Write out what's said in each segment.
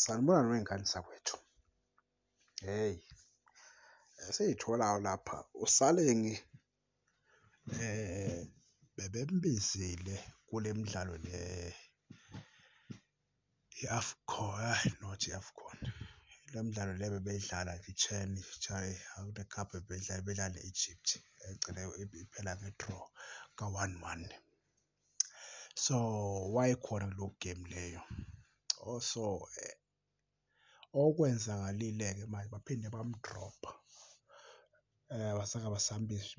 sanibona ney'ngane zakwethu hheyi esiyitholayo lapha uSaleng bebembizile kule midlalo le i-Afcon hhayi not i-Afcon le midlalo le bebeyidlala i-CHAN hhayi akunakukhapha bebeyidlala bebedlala ne-Egypt egcine iphela nge-draw ka-one one. so wayekhona kulo game leyo oh, so eh, okwenzakalile-ke manje baphinde bamdropha um eh, wasaka basambisi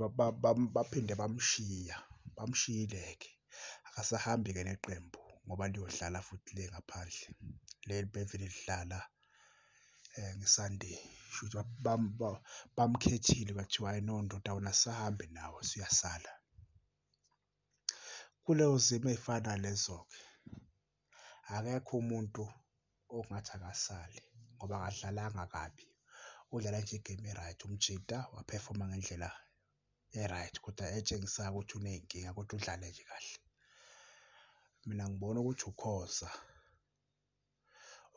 baphinde bamshiya bamshiyile-ke akasahambi-ke neqembu ngoba liyodlala futhi le ngaphandle leli bevele lidlala um ngesunday shuthi bamkhethile bathiwa hayi no ndoda wena sisahambe nawe siyasala Kuleyo zimo ey'fana nalezo-ke akekho umuntu ongathi akasale ngoba akadlalanga kabi, udlale nje igemu e-right, umjita waphefoma ngendlela e-right kodwa etshengisako ukuthi uney'nkinga kodwa udlale nje kahle. Mina ngibona ukuthi uKhoza,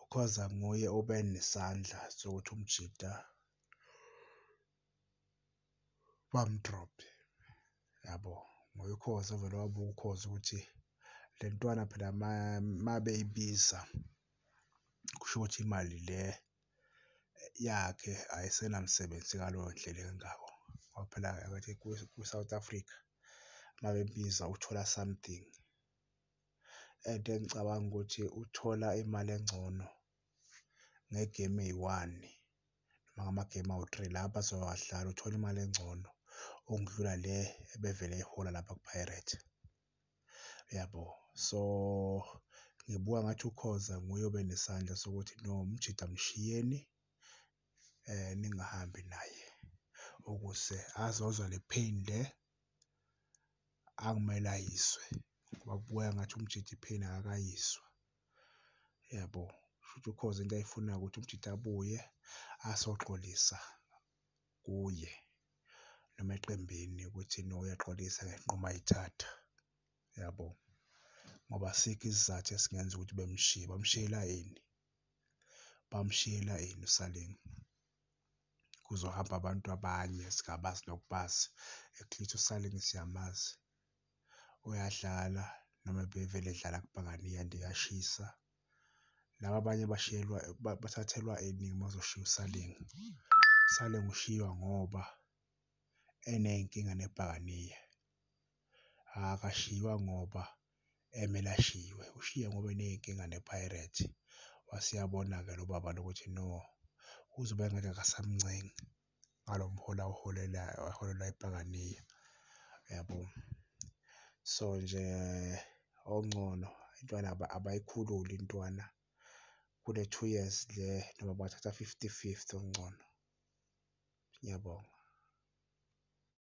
uKhoza nguye obe nesandla sokuthi umjita. bamdrop yabo ngoba ukhozi ovele wabuka ukhozi ukuthi le ntwana phela uma beyibiza kusho ukuthi imali le yakhe ayisenamsebenzi ngaleyo ndlela engako ngoba phela akathi kwi-South Africa uma bebiza uthola something. And engicabanga ukuthi uthola imali engcono ngegemu eyi-one noma ngamagemu awu-three lapho azowadlala uthole imali engcono okudlula le ebevele eyihola lapha ku-Pirates. Uyabo? So ngibuka ngathi uKhoza nguye obe nesandla sokuthi no umjida mshiyeni um ningahambi naye ukuze azozwa le pain le akumele ayizwe ngoba kubukeka ngathi umjida i-pain akakayizwa. yabo shuthi ukhoza into ayifunayo ukuthi umjita abuye asoxolisa kuye noma eqembini ukuthi no uyaxolisa ngenqumo ayithatha yabo ngoba asikho isizathu esingenza ukuthi bemshiye bamshiyela yini bamshiyela yini usaling kuzohamba abantu abanye singabazi nokubazi at least usaling siyamazi. uyadlala noma bevele edlala kubhakane iyanda iyashisa. Laba abanye bashiyelwa bathathelwa iningi uma uzoshiya uSaleng. USaleng ushiywa ngoba eney'nkinga nebhakanyiya akashiywa ngoba emele ashiywe ushiye ngoba eney'nkinga nePirates. Waseyabona-ke lo baba lo ukuthi no uzobe engathi akasamncengi. ngalo mholi awuholelayo aholelwa iPakania yabo so nje ongcono intwana abayikhululi intwana kule two years le noma bathatha fifty fifty okungcono. Ngiyabonga.